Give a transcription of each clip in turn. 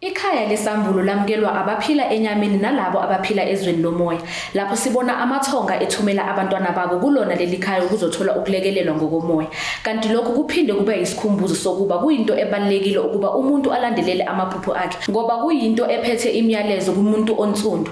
Ikhaya lesambulo lamukelwa abaphila enyameni nalabo abaphila ezweni lomoya. Lapho sibona amathonga ethumela abantwana babo kulona leli khaya ukuzothola ukulekelelwa ngokomoya. Kanti lokhu kuphinde kube yisikhumbuzo sokuba kuyinto ebalulekile ukuba umuntu alandelele amaphupho akhe ngoba kuyinto ephethe imiyalezo kumuntu onsundu.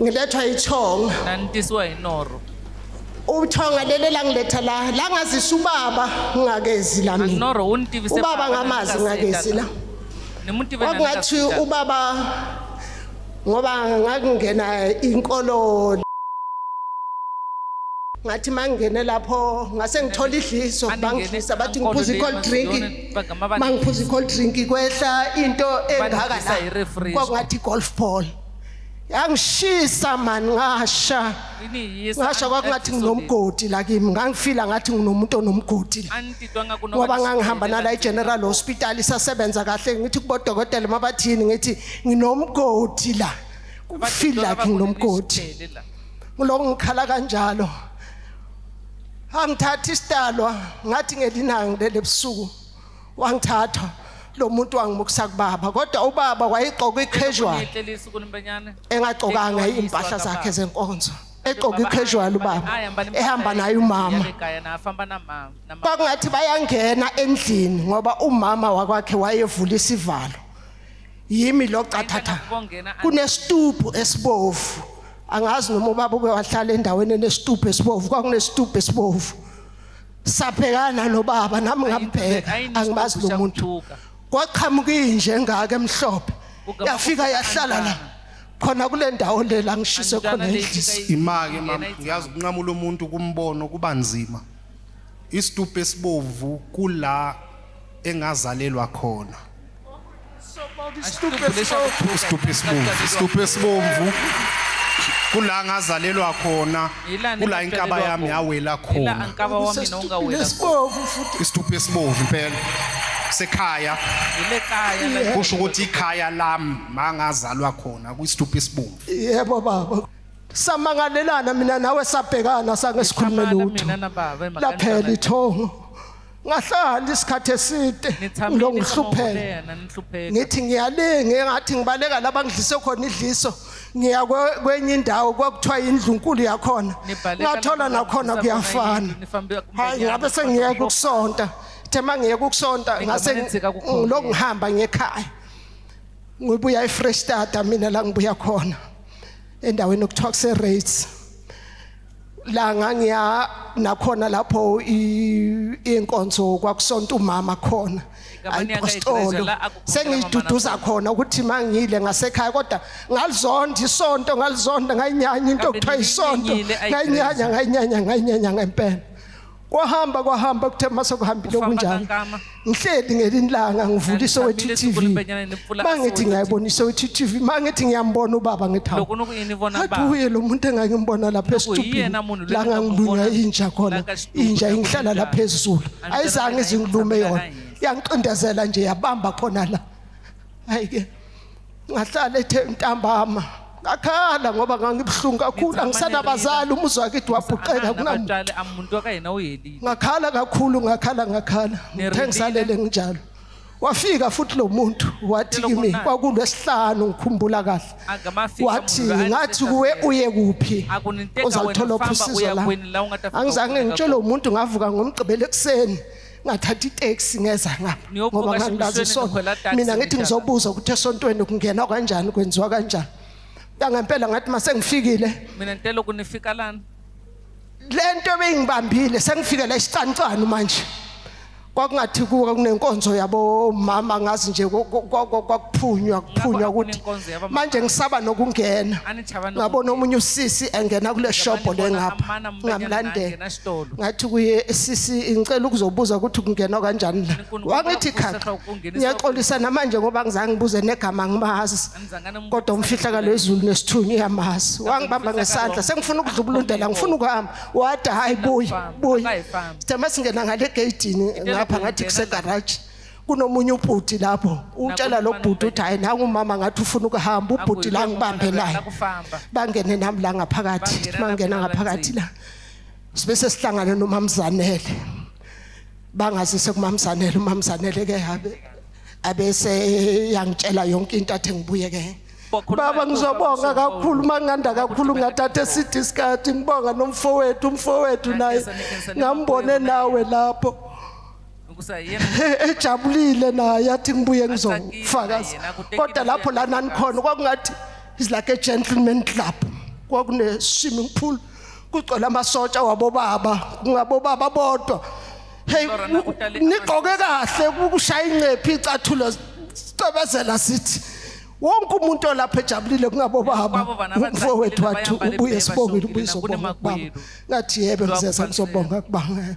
ngilethwa ichonga nanditiswa inoro uthonga lele la ngiletha la la ngazisa ubaba ngingakezi la mina anoro unditivise ubaba ngamazi ngingakezi la kwakungathi ubaba ngoba ngakungena inkolo ngathi mangingene lapho ngase ngithola idliso bangidlisa bathi ngiphuza i-cold drink mangiphuza i-cold drink kwehla into engaka la kwakungathi i-golf ball yangishisa mani ngasha ngasha kwakungathi nginomgodi la kimi ngangifila ngathi nginomuntu onomgodi ngoba ngangihamba nala i-general hospital isasebenza kahle ngithi kubodokotela uma bathini ngithi nginomgodi la kufila like nginomgodi ngiloko ngikhala kanjalo angithathi isidalwa ngathi ngelinangi lele busuku wangithatha lo muntu wangimukisa kubaba kodwa ubaba wayegqoka i-casual engagqokanga iy'mpahla zakhe zenkonzo egqoka i-casual ubaba ehamba naye umama kwakungathi bayangena endlini ngoba umama wakwakhe wayevula isivalo yimi lo cathatha kunesitubhu esibovu angazi noma ubaba uke wahlala endaweni enesitubhu esibovu kwakunesitubhu esibovu sabhekana nobaba nami ngambheka angibazi lo muntu kwaqhamuka inje engaka emhlophe yafika yahlala la khona kule ndawo le la ngishise khona endlisi imake mama ngiyazi ukunqamula umuntu kumbono kuba nzima isitupu esibovu kula engazalelwa khona stupesibomvu kula ngazalelwa khona kula inkaba yami yawela khona isituphu esibovu impela sekhaya kusho ukuthi ikhaya lami mangazalwa khona kwisituphu esibovu yebo baba samangalelana mina nawe sabhekana sange sikhulume lutho laphela ithongo ngahlala isikhathi eside ngilo ngihlupheka ngithi ngiyalinga engathi ngibaleka laba ngidlise khona idliso ngiya kwenye indawo kwakuthiwa indlu nkulu yakhona ngathola nakhona kuyafana hayi ngabe sengiyeka ukusonta the mangiyeka ukusonta ngase ngilokhu ngihamba ngekhaya ngibuya efresh start mina la ngibuya khona endaweni okuthiwa kuse rates la ngangiya nakhona lapho inkonzo kwakusonta umama khona ayipostolo sengiduduza khona ukuthi mangile ngasekhaya kodwa ngalizonda isonto ngalizonda ngayinyanya into okuthiwa isonto ngayinyanya ngayinyanya ngayinyanya ngempela kwahamba kwahamba kuthe mase kuhambile okunjalo ngihleli ngelinye langa ngivula isowethu tv mangithi ngiyayibona isowethu tv mangithi ngiyambona ubaba ngithawu athi uye lo muntu engangimbona lapha esitubhini la ngangilunywa inja khona inja ingihlala lapha ezulu ayizange izingilume yona yangiqindezela nje yabamba khona la ayike ngahlala ethe ntambama ngakhala ngoba ngangibuhlungu kakhulu angisanabazali umuzi wakithi wabhuqeka kunamuntali amuntu akayena uyelile ngakhala kakhulu ngakhala ngakhala ngithe ngisalele nginjalo wafika futhi lo muntu wathi kimi kwakulwesihlanu ngikhumbula kahle wathi ngathi kuwe uye kuphi uzalithola ophusizwe la angizange ngitshele umuntu ngavuka ngomgqibelo ekuseni ngathatha itaxi ngeza ngapha ngoba ngangilazi isonto mina ngithi ngizobuza ukuthi esontweni kungena kanjani kwenziwa kanjani ngangempela ngathi mase ngifikile mina ngicela ukunifika lana lento ebeyingibambile sengifike la isicancane manje kwakungathi kuwe kunenkonzo yabo mama ngazi nje kwakuphunywa kuphunywa ukuthi manje ngisaba nokungena ngabona omunye usisi engena kule shop lengapha ngamlandela esitolo ngathi kuye sisi ngicela ukuzobuza ukuthi kungenwa kanjani la wangithi khakha ngiyaxolisa namanje ngoba ngizange ngibuze negama ngimazi kodwa umfihla kalezulu nesithunywa uyamazi wangibamba ngesandla sengifuna ukudlubulundela ngifuna ukuhamba wada hayi buyi buyi sithe masingena ngale egeyidini ngapha ngathi kusegaraji kunomunye ubhuti lapho utshela lo bhuti uthi hayi nangu umama ngathi ufuna ukuhamba ubhuti la ngibambe naye bangene nami la ngaphakathi mangena ngaphakathi la sibe sesihlangane nomamzanele bangazise kumamzanele umamzanele ke habe abese yangitshela yonke into athi ngibuye ke baba ngizobonga kakhulu manganda kakhulu ngathatha eside isikhathi ngibonga nomfowethu umfowethu naye ngambone nawe lapho ejabulile naye athi ngibuye ngizofakaza kodwa lapho lana nikhona kwakungathi is like a gentleman club kwakune swimming pool kugcwele amasotsha wabobaba kungabobaba bodwa hey nigqoke kahle ukushaya incephi icathulo sicebezela sithi wonke umuntu olapha ejabulile kungabobaba umfowethu wathi ubuye sibongile ubuye sobonga kubaba ngathi yebe ngizeza ngizobonga kubanga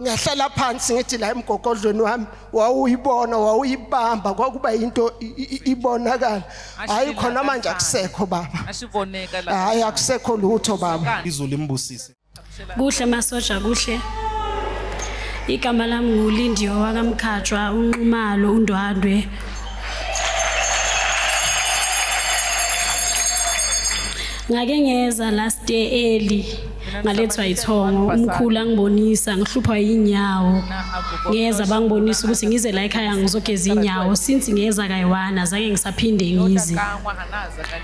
ngiyahlala phansi ngithi la emgogodlweni wami wawuyibona wawuyibamba kwakuba into ibonakala hayi khona manje akusekho baba asiboneka la hayi akusekho lutho baba izulu imbusise kuhle masoja kuhle igama lami ngulindiyo wakamkhatshwa unqumalo undwandwe ngake ngeza last day early ngalethwa yithongo umkhulu angibonisa ngihluphwa yinyawo ngeza bangibonisa ukuthi ngize la ekhaya ngizogeza inyawo since ngeza kayiwana zange ngisaphinde ngize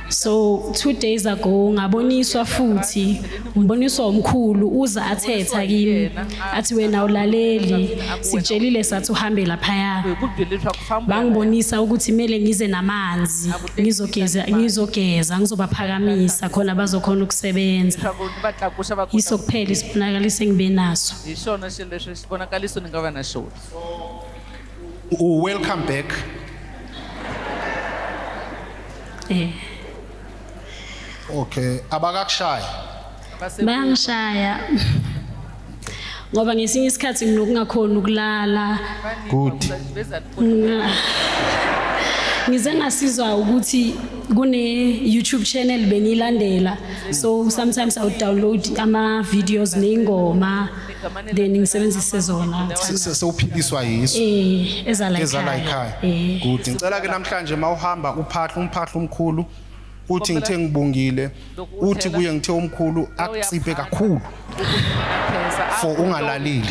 so two days ago ngaboniswa futhi ngiboniswa umkhulu uza athetha kimi athi wena ulaleli sitshelile sathi uhambe laphaya bangibonisa ukuthi kumele ngize namanzi ngizogeza ngizogeza ngizobaphakamisa khona bazokhona ukusebenza yiso kuphela isibonakaliso engibe naso welcome back eh okay abakakushaya bayangishaya ngoba ngesinye isikhathi nginokungakhona ukulala good ngize ngasizwa ukuthi kune YouTube channel bengilandela so sometimes i would download ama videos nengoma then ngisebenzise zona sewuphiliswa yiso eh ezala ekhaya eh. good ngicela ke namhlanje mawuhamba uphahla umphahla omkhulu uthi ngithe ngibongile uthi kuye ngithe omkhulu akuciphe kakhulu for ungalalile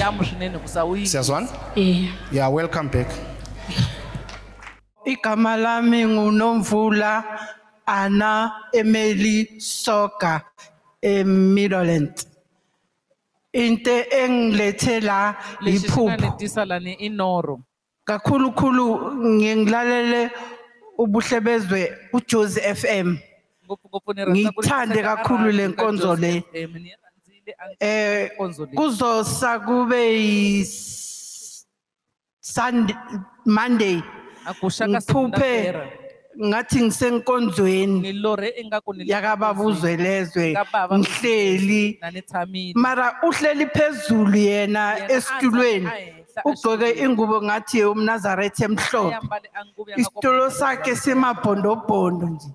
siyazwana eh. yeah welcome back igama lami ngunomvula ana emeli soka emiddleland into engilethe la yiphupho kakhulukhulu ngiye ngilalele ubuhle bezwe uJozi FM ngithande kakhulu le nkonzo le eh kuzosa kube Sunday Monday ngiphuphe ngathi ngisenkonzweni ngilore ingaku ni yakababuzwe lezwe Kababa. ngihleli nani tsamile mara uhleli phezulu yena Yena esitulweni aza ahehla ugqoke ashilo. ingubo ngathi umnazaretha emhlophe Ayambale angubo yakako- isitulo sakhe simabhondobhondo nje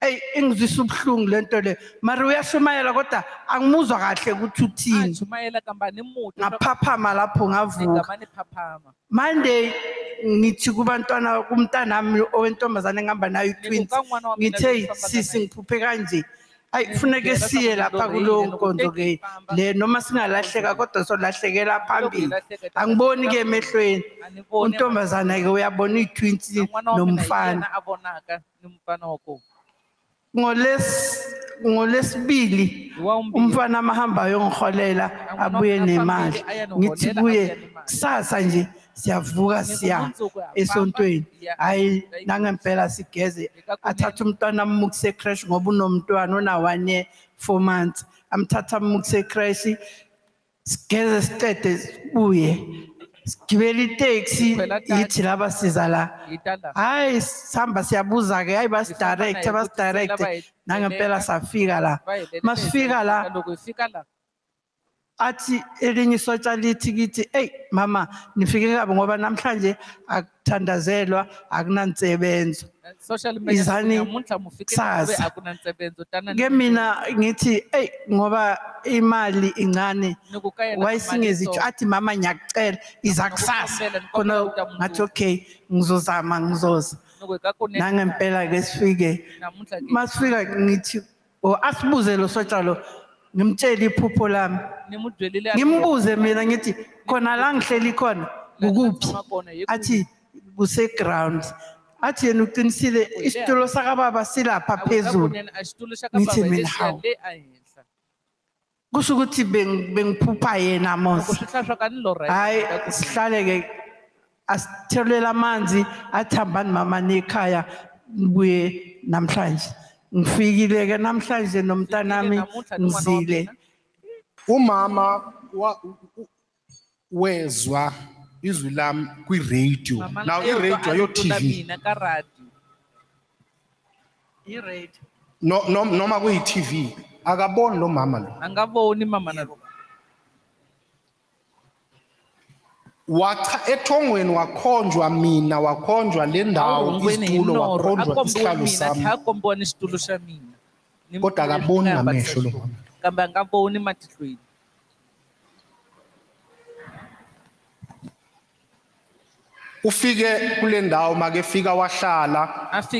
eyi ingizwisa ubuhlungu le nto le mara uyashumayela kodwa angimuzwa kahle ukuthi uthini Ajumayela kambani mude ngaphaphama lapho ngavuka ningamane phaphama Monday ngithi kubantwana kumntanami owentombazane engihamba nayo i-twins ngithe sisi ngiphuphe kanje ayi kufuneke siye lapha kulowo nkonzo ke le noma singalahleka kodwa solahlekela phambili angiboni ke emehlweni untombazana ke uyabona ii-twins nomfana ngoles ngolesibili umfana amahamba ayongiholela abuye nemali ngithi kuye kusasa nje siyavuka siya esontweni hayi nangempela sigeze athathe umntwana amukise ecrash ngoba unomntwana ona-one year four months amthatha amukise ecrash sigeze siqede sibuye sigibele iteksi yithi laba siza la hayi sihamba siyabuza ke hayi basidirecte basidirecte nangempela safika la masifika la athi elinye isotsha lithi kithi eyi mama nifike kabi ngoba namhlanje thandazelwa akunansebenzo social media Izani namuntlha mufikile kusasa. kube akunansebenzo tana ke mina ngithi eyi ngoba imali incane nikukayena wayisingezitsho athi mama ngiyakucela iza kusasa khona ngathi okay ngizozama ngizoza nangempela ke sifike namuntlha ke masifika ngithi or asibuze lo sotsha lo ngimtshele iphupho lami nimudwelile ngimbuze mina ngithi khona la ngihleli khona kukuphi athi kuse ground athi yena uqinisile isitulo sakababa silapha phezulu ngithi mina hawu kusho ukuthi bengiphupha yena mos hayi sihlale-ke asithelele amanzi athambani mama nekhaya ngibuye namhlanje ngifikile-ke namhlanje nomntanami ngizile umama wezwa izwi lami kwi-radio now i-radio ayo TV noma kuyi-TV akaboni lo mama lo angaboni mama nalo wacha ethongweni wakhonjwa mina wakhonjwa le ndawo isitulo wakhonjwa isihlalo sami akombona isitulo samina kodwa akaboni ngamehlo lo mama kambe angaboni matihlweni ufike kule ndawo makefika wahlala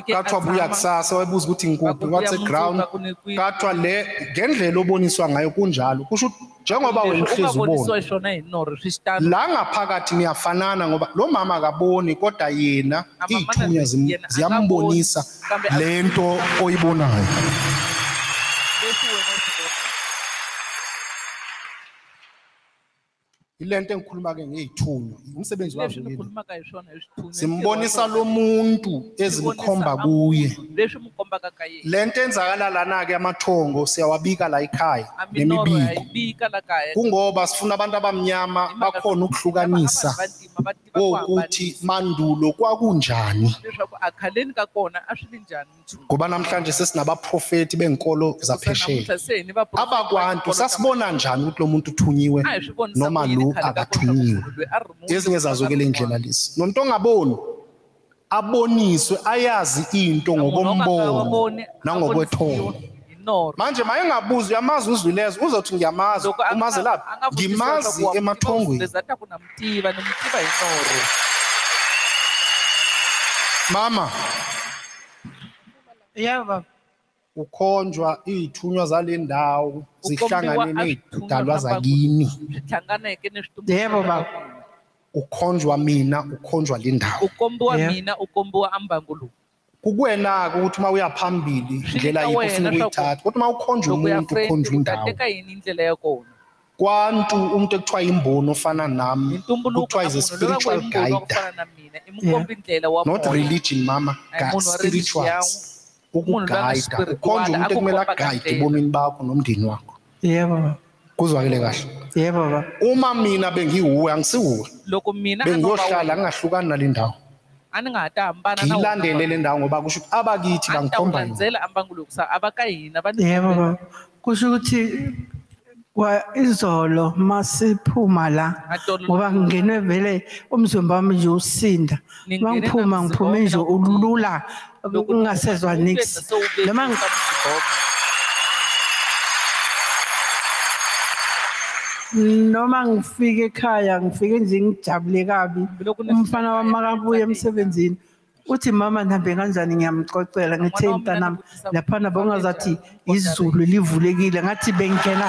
kathiwa buya kusasa wayebuza ukuthi ngikuphi wathe ground kathiwa le ngendlela oboniswa ngayo kunjalo kusho ukuthi njengoba wena uhlezi ubona la ngaphakathi niyafanana ngoba lo mama akaboni kodwa yena iy'thunya ziyambonisa lento oyibonayo ilento engikhuluma ke ngeyithunywa umsebenzi wazo simbonisa lo muntu ezimkhomba kuye lento enzakala lana ke amathongo siyawabika la ekhaya nemibiko kungoba sifuna abantu abamnyama bakhona ukuhlukanisa kokuthi mandulo kwakunjani leswaku akhaleni ka kona a swi ri njhani mchunu ngoba namhlanje sesinabaprofeti benkolo zaphesheya abakwantu sasibona njani ukuthi lo muntu uthunyiwe noma lo akathunyiwe ezinye zazo-ke le ndlela lezi nomntu ongaboni aboniswe ayazi into ngokombono nangokwethongo manje maye ngabuza uyamazi uzwilezo uzothi ngiyamazi umazi laphi ngimazi emathongweni mama yeah baba kukhonjwa izithunywa zale ndawo zihlangane nezidalwa zakini zihlanganeke nesitumbu yebo baba ukhonjwa mina ukhonjwa le ndawo ukombiwa mina ukombiwa ambangulu kukuwena-ke ukuthi uma uya phambili indlela yikho ufuna ukuyithatha kodwa uma ukhonjwa umuntu ukhonjwa indawo kwantu umuntu ekuthiwa imboni ofana nami kuthiwa is a spiritual guide not religion mama God, spirituals ukugayida ukhonje umuntu ekumele agayide ebomini bakho nomndeni wakho yebo kuzwakele kahle yebo baba uma mina bengiwuwe angisiwuwe loko mina bengiyohlala ngingahlukani nalendawo a ni nga ha ta hambana na ngilandele le ndawo ngoba kusho ukuthi abakithi bangikhomba yona ambangulo kusa abaka hina va yebo baba kusho ukuthi kwa izolo masiphuma la ngoba ngingenwe vele umzimba wami nje usinda mangiphuma ngiphume nje ulula ngingasezwa nix noma noma ngifike ekhaya ngifike nje ngijabule kabi umfana wami makabuye emsebenzini uthi mama nihambe kanjani ngiyamxoxela ngithe mntanami laphana bongazathi izulu livulekile ngathi bengena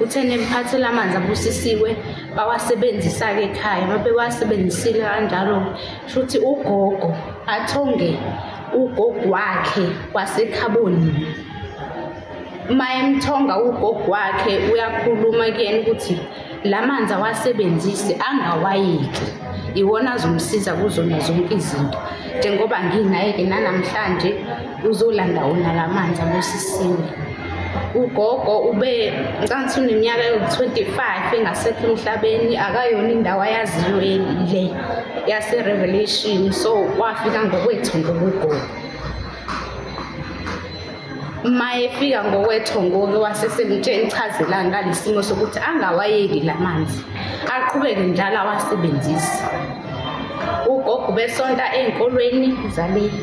uthene mphathele amanzi abusisiwe bawasebenzisa-ke ekhaya uma bewasebenzisile kanjalo shuthi ugogo athonge ugogo wakhe wasekhaboni uma emthonga ugogo wakhe uyakhuluma kuyena ukuthi la manzi awasebenzise angawayeki iwona azomsiza kuzona zonke izinto njengoba nginaye-ke nanamhlanje uzolanda wona la manzi abusisiwe ugogo ube ncansi uneminyaka yoku-25 engasekho emhlabeni akayona indawo ayaziyo le yaserevelation so wafika ngokwethongo kugogo uma efika ngokwethongo-ke wasesemtsheni chazelani ngalesimo sokuthi angawayeki la manzi aqhubeke njalo awasebenzise ugogo besonta ey'nkolweni zaleli